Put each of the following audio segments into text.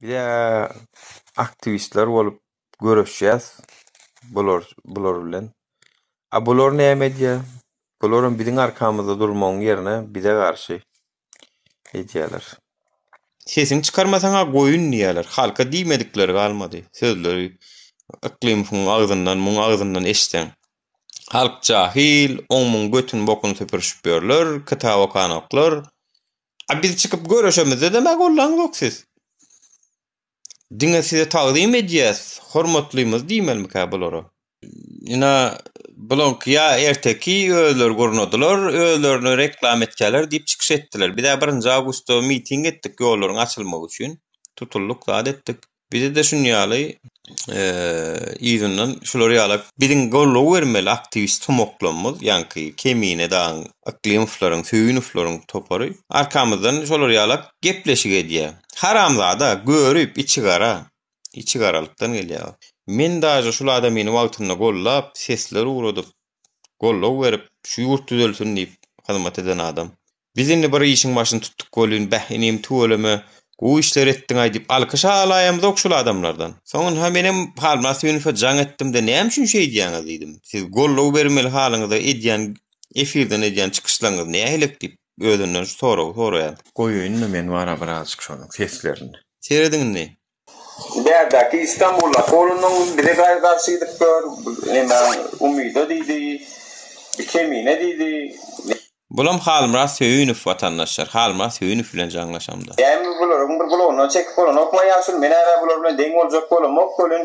Bize aktiwistler bolup göreşýäs bular bular bilen. A bular näme edýär? Bularam biziň arkamyzda durmagyň ýerine bize garşy edýäler. Sesiňi çykarmasaňa goýun diýýäler. Halka diýmedikleri galmady. Sözleri Yklymowyň agzyndan, muň agzyndan eştseň. Halk jahyl, oň-muň götün bokun süpürşip ýörler, kitap okanoklar. A biz çykyp görüşemizde-de-mä gollaň zok siz. Diňe size tagzym edýäs, hormatlymyz diýmelimikä bulara? Ina, bulaňky ýa erteki özleri gurnadylar, özlerini reklam etýärler diýip çykyş etdiler. Biz-ä birinji awgustda miting etdik ýollaryň açylmagy üçin. Tutuldyk, zat etdik. Bizede şun ýaly yzyndan şular ýalak biziň goldaw bermeli aktiwist tomaklamyz ýaňky Kemine dagyň Yklymowylaryň Söýünowylaryň topary arkamyzdan şolar ýalak gepleşik edýä haramzada görüp içi gara içi garalykdan gelýä men daže şul adamyny wagtynda goldap sesler ugradyp goldaw berip, şu ýurt düzelsin diýip hyzmat eden adam. Biz indi bir işiň başyny tutduk welin, bäh, inim, tüweleme, gowy işler etdiň-aý diýip, alkyş-a alaýamyzok şul adamlardan. Soňunha menem Halmyrat Süýünowe jaň etdim-de, Näme üçin şeýdýäňiz? diýdim. Siz goldaw bermeli halyňyza edýän, efirden edýän çykyşlaryňyz nähilek diýip, özünden şu soragy soraýan. Goýaýyn-da men wara birazjyk şonuň seslerini. Serediň indi. Bärdäki Istanbul okolynyň bize gaýy garşy gidip dur, nemäň umydy diýdi, bir kemine diýdi. Bulam Halmyrat Söýünow watandaşlar, Halmyrat Söýünow bilen jaňlaşamda. Dämi bularyň bir gulagyna çekip bolanokma ýaşuly, men-ä bular bilen deň boljak bolamok welin,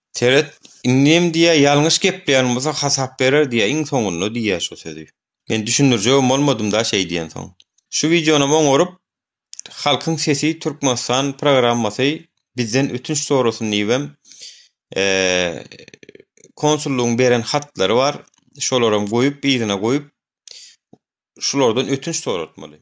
Seret, indem diýýär, ýalňyş gepleýän bolsa hasap berer diýýär, iň soňunda diýýär şu sözi. Men düşündirjegem bolmadym-da şeý diýensoň. Şu wideonam oňaryp, Halkyň sesi Türkmenistan programmasy bizden ötünç sorasyn diýibem, konsullygyň beren hatlary bar, şolaram goýup, yzyna goýup, şulardan ötünç soratmaly.